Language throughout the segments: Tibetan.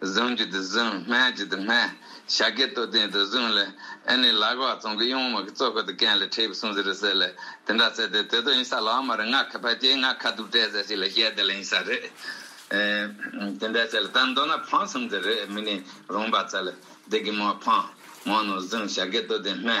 བཟུང་རྒྱུ་དེ་བཟུང་སྨད་རྒྱུ་དེ་སྨད། བྱ་དགའི་ལྟོ་ལྡན་དེ་བཟུང་ལ། ཨེ་ནི་ལག་བག་བཙོང་གི་གཡུང་དམག་གི་གཙོ་བཀོད་དུ་ཀན་ལི་ཁྲེའི་བུ་སུང་ཟི་རི་ཟེར་ལས་དེ་འདྲ་བཙལ་ཏེ་དེ་དོ་ཡིན་ས་ལ་བ་མ་རི་ངག་ཁ་ཕལ་སྐྱེས་ངག་ཁ་དུབ་བྲལ་ཟེར་ཞིག་ལ་ཞལ་དེ་ལ་ཡིན་ས་རེད། དེ་འདྲ་བྱས་ལ་ད་མདོར་ན་འཕང་སུམ་ཙི་རེ་མི་ནི་རུང་བ་བཙལ་ལ་དེ་གི་མོ་འཕང། མོ་ནོར་བཟུང་བྱ་དགའི་ལྟོ་ལྡན་སྨད།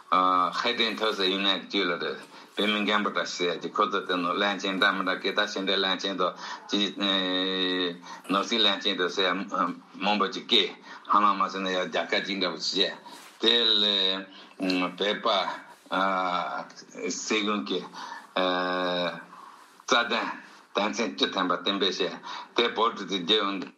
ཧའེ་ཏེན་ཐོས་ཟེར་ཡུན་ནན་གྱི་དཀྱུས་ལ་རེད། བོད་མི་རྒན་པོ་འདྲ་ཞིག་ཟེར་ཡ་གྱི་ཁོ་ཚོ་དེ་ནོར་གླན་ཆེན་འདྲ་མི་འདྲ་སྐད་བརྡ་ཆེ་འདྲའི་གླན་ཆེན་དོ་ཅི། ནོར་སྲིད་གླན་ཆེན་དོ་ཟེར་ཡ་མང་པོ་ཅིག་སྐད་ཧ་ལམ་མ་ཟེར་ན་ཡ་རྒྱ་སྐད་ཅིག་འདྲ་པོ་ཞིག་བཤད། དེ་ལས་བོད་པ། སྲིད་གཞུང་གི། རྩ་དོན་དོན་ཚན་བཅུ་ཐན་པ་བསྟན་པའི་བཤད་དེ་བོད་དུ་དེ་རྒྱལ་ཡོངས།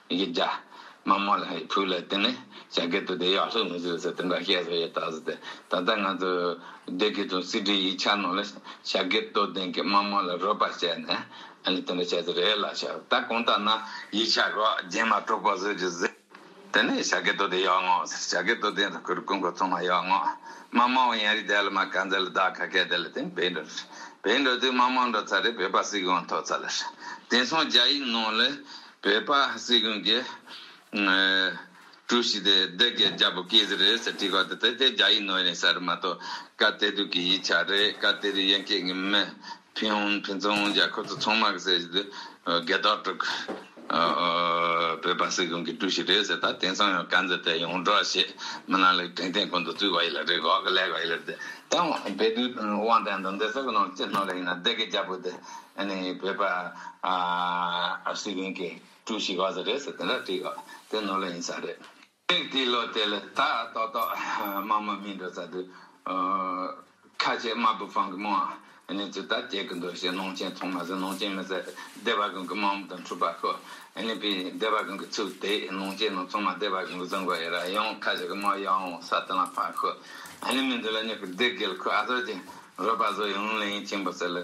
ཡིག་བརྒྱ། མ་མོ་ལ་ཡི་བུ་ལ་བསྟེན་ནས་བྱ་དགའི་དུ་དེ་ཡོག་ལྷུག་མི་བཟོད་ཟེར་དེ་འདྲ་བཤད་སོ་ཡོད་ད་ཟེར་ཏེ་ད་ལྟ་ང་ཚོ་སྡེ་དགེ་དང་སྲིད་ཁྲི་ཡིག་ཆ་ནང་ལ་བྱ་དགའི་དུ་ལྡན་གྱི་མ་མོ་ལ་རོལ་པ་བྱས་ནས་ཨ་ནི་དེ་འདྲ་བྱས་ཟེར་རེད་ལགས་ཤག་ད་གང་ལྟར་ན་ཡིག་ཆ་རོ་རྗེན་མ་གྲོགས་པོ་བཟོས་རྗེས་ཟེར། དེ་ནས་བྱ་དགའི་དུ་དེ་ཡོག་ངོ་ཟེར་བྱ་དགའི་དུ་ལྡན་དུ་ཁུར་སྐུ་འཁོར་ཚང་མ་ཡོག་ངོ། མ་མོ་འོ་ཡང་རིགས་དེ་ལ་མ་ག་འཛེར་ལ་བདག་ག་གད་དེ་ལ་བསྟེན་བེད་འགྲོ་རེད་བེད་འགྲོ་དུས་མ་མོ་འགྲོ་ཚར་རེད་བོད་པ་སྲིད་གང་ཐོབ་ཚར་ལ་ཧྲ། དེང་སང་རྒྱ་ཡིག་ནང་ལ། བོད་པ་སྲིད་གཞུང་གི་ཀྲུའུ་ཞི་དེ་བདེ་སྐྱིད་རྒྱལ་པོ་ཀིརྟི་རེད་ཟེར་བྲིས་པ་དེ་དེ་རྒྱ་ཡིག་ནོར་ཡིན་ཟེར་རེད་མ་གཏོགས་བཀའ་གཏེར་དུས་ཀྱི་ཡིག་ཆ་རེད་བཀའ་གཏེར་ཡན་སྐད་ཀྱི་མི་ཕིན་ཧོན་ཕིན་ཚོང་རྒྱག་ཁོ་ཚོ་ཚོང་དམག་ཟེར་གྱི་དུས་འགལ་ཟློག་དཀྲུག་བོད་པ་སྲིད་གཞུང་གི་ཀྲུའུ་ཞི་རེད་ཟེར་ད་དེང་སང་ཡང་བཀའ་འཛིན་དེ་ཡོངས་བསྒྲགས་ཞེས་མི་ནག་ལས་དྲིན་ལྡན་ཀུན་ཏུ་བཙུད་པ་ཡིན་ལ་རེད་གོ་ག་ལེགས་པ་ཡིན་ལ་དེ་ད་བོད་དུས་དབང་ལྡན་དུ་འདི་ཟེར་གི་ནོར་ཅི་ནོར་ལེ་ཡིན་ན་བདེ་སྐྱིད་རྒྱལ་པོ་དེ། བོད་པ་སི་ཝིན་གྱི་ཀྲུའུ་ཞི་བ་ཟ་རེད་ཟེར་དེ་འདྲ་བྲིས་ཡོད་དེ་ནོར་ལ་ཡིན་ས་རེད། ཚིག་འདི་ལོ་དེ་ལ་དག་ཏོག་ཏོག་དམངས་མ་མིན་འགྲོ་ས་འདུག། ཁ་ཆེ་དམར་པོ་ཕང་གི་མོའང་ནི་ཚོད་ལྟ་བྱེད་གི་འདུག་ཞེས་ནོངས་ཆེན་ཚོང་མ་ཟེར་ནོངས་ཆེན་མི་ཟེར་སྡེ་བ་གོང་གི་དམག་མོ་དང་འཁྲུག་པ་ཤོ་ནི་པའི་སྡེ་བ་གོང་གི་ཚུགས་དེ་ནོངས་ཆེན་ནོ་ཚོང་མ་སྡེ་བ་གོང་གི་བཟང་གོ་ཡི་ར་ཡོང་ཁ་ཆེ་གི་མོ་ཡོང་ངོ་ས་དེ་ལ་ཕ་ཤོ་ནི་མི་འདི་ལ་ཉོག་གི་སྡེ་དགེ་ལ་ཁོས་ཨ་ཟོ་ཅན་རོ་པ་ཟོ་ཡོང་ལེ་ཡིན་ཆེན་པོ་ཟེར་ལེ།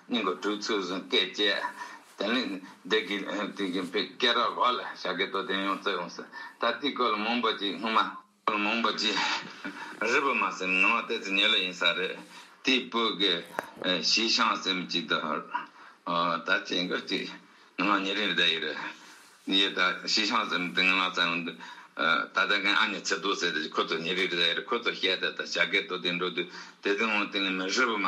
སྙིང་གི་དྲོད་ཚུལ་བཟུང་སྐད་བཅས། དེ་ནས་བདེ་སྐྱིད་དུས་ཀྱི་བུ་སྐྱེ་ར་བ་ལ་བྱ་དགའི་དོ་དན་ཡོངས་བསྩལ་ཡོང་ཟེར་ད་ལྟའི་སྐོར་ལ་མང་པོ་ཅིག་སྔོན་མ། སྐོར་ལ་མང་པོ་ཅིག་རི་བོ་མ་སེམས་ནང་བ་དེ་ཚོ་ཉེ་ལོ་ཡིན་ས་རེད་དེའི་སྤོས་ཀྱི་གཞིས་ཤང་སེམས་ཅིག་དུ་ད་ཅིག་འགོ་ཅིག་ང་ལ་ཉེ་རིང་རེ་བསྡད་ཡོད་རེད་ཡོད་ད་གཞིས་ཤང་སེམས་དེ་ང་ལ་བསྩལ་ཡོང་དུས་ད་ལྟ་ངའི་ཨ་མྱེ་ཚེ་རྡོར་ཟེར་དེ་ཁོ་ཚོ་ཉེ་རིང་རེ་བསྡད་ཡོད་རེད་ཁོ་ཚོ་བཤད་དེ་ད་བྱ་དགའི་དོ་དན་འགྲོ་དུས་དེ་ཚོའི་ངང་དེ་ནས་མི་རི་བོ་མ།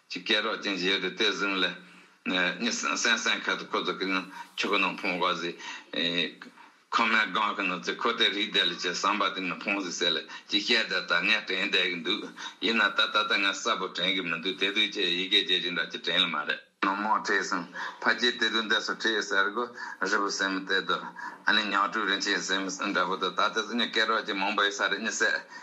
ཀྱི་སྐད་རོགས་ཅན་བཞེས་ཏེ་དེ་བཟུང་ལས། ནི་སེང་སེང་ཁ་དུ་ཁོ་ཚོ་ཀྱི་ནི་ཆུ་ཁོ་ནང་འཕོང་བ་ཟི། ཁོ་མའི་སྒང་གི་ནི་ཚེ་ཁོ་དེ་རིགས་བསྡད་ལ་ཅི་བསམ་པ་དེ་ནི་འཕོང་ཟི་ཟེར་ལ་ཅི་བཤད་དེ་ལྟར་ངས་དྲན་བསྡད་ཀྱི་འདུག་ཡིན་ན་ད་ད་ལྟ་ངས་གསལ་པོ་དྲན་གྱི་མི་འདུག་དེ་དུས་ཁྱེད་ཡི་གེ་རྗེས་ཅི་འདྲ་ཅི་དྲན་ལ་མ་རེད། ནོར་མང་བྲིས་སོང་ཕ་ཁྱེད་དེ་དུས་འདི་སུ་བྲིས་ཟེར་དགོ་རི་བོ་སེམས་གཏད་དོ། ཨ་ནི་ཉག་ཕྲུག་རིན་ཆེན་སེམས་འདྲ་བོ་དོ་ད་ལྟ་སུ་ནི་སྐད་རོགས་ཅན་མང་པོ་ཡོད་ས་རེད་ནི་ཟེར།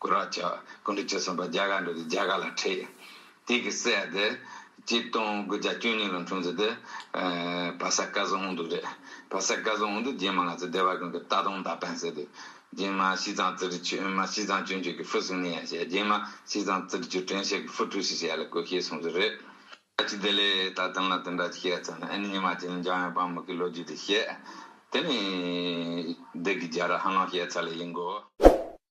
ཀུ་ར་ཅག་ཀུན་དུ་ཅི་ཟིན་པ་བརྒྱ་ག་འདྲ་དེ་བརྒྱ་ག་ལ་ཁྲིད། དེ་གི་སྲས་དེ་སྐྱིད་སྟོང་དགུ་བརྒྱ་བཅུ་གཉིས་ལོ་འཁྲུངས་ཚུལ་དེ་བ་ས་ཀ་ཟུང་འུ་འདུག་རེད། བ་ས་ཀ་ཟུང་འུ་འདུག་རྗེས་མ་ང་ཚོ་སྡེ་བ་ཀུན་གི་རྟ་གདོང་མདའ་འཕེན་ཟེར་དུས། རྗེས་མ་ཤིས་ཚང་ཙི་ཏྲི་ཆོས་མ་ཤིས་ཚང་ཅུན་ཆོས་ཀྱི་ཧྥུ་སུང་ནི་ཡ་བྱས་རྗེས་མ་ཤིས་ཚང་ཙི་ཏྲི་ཆོས་དྲན་ཤེས་ཀྱི་ཧྥུ་ཀྲུའུ་ཞི་ཞེས་ཡ་ལ་བཀོད་ཤེས་གསུངས་ཚུལ་རེད། ཨ་ཅི་དེ་ལས་ད་དོན་ལ་དོན་འདྲ་ཅིག་བཤད་ཚར་ན་ཨ་ནི་ཉི་མ་ཅན་འཇམ་དབྱངས་དཔའ་མོ་ཀྱི་ལོ་རྒྱུས་དེ་བཤད། དེ་ནི་བདུད་ཀྱི་རྒྱལ་ར་ཧ་ལོང་བཤད་ཚར་ལ་ཡིན་དགོས།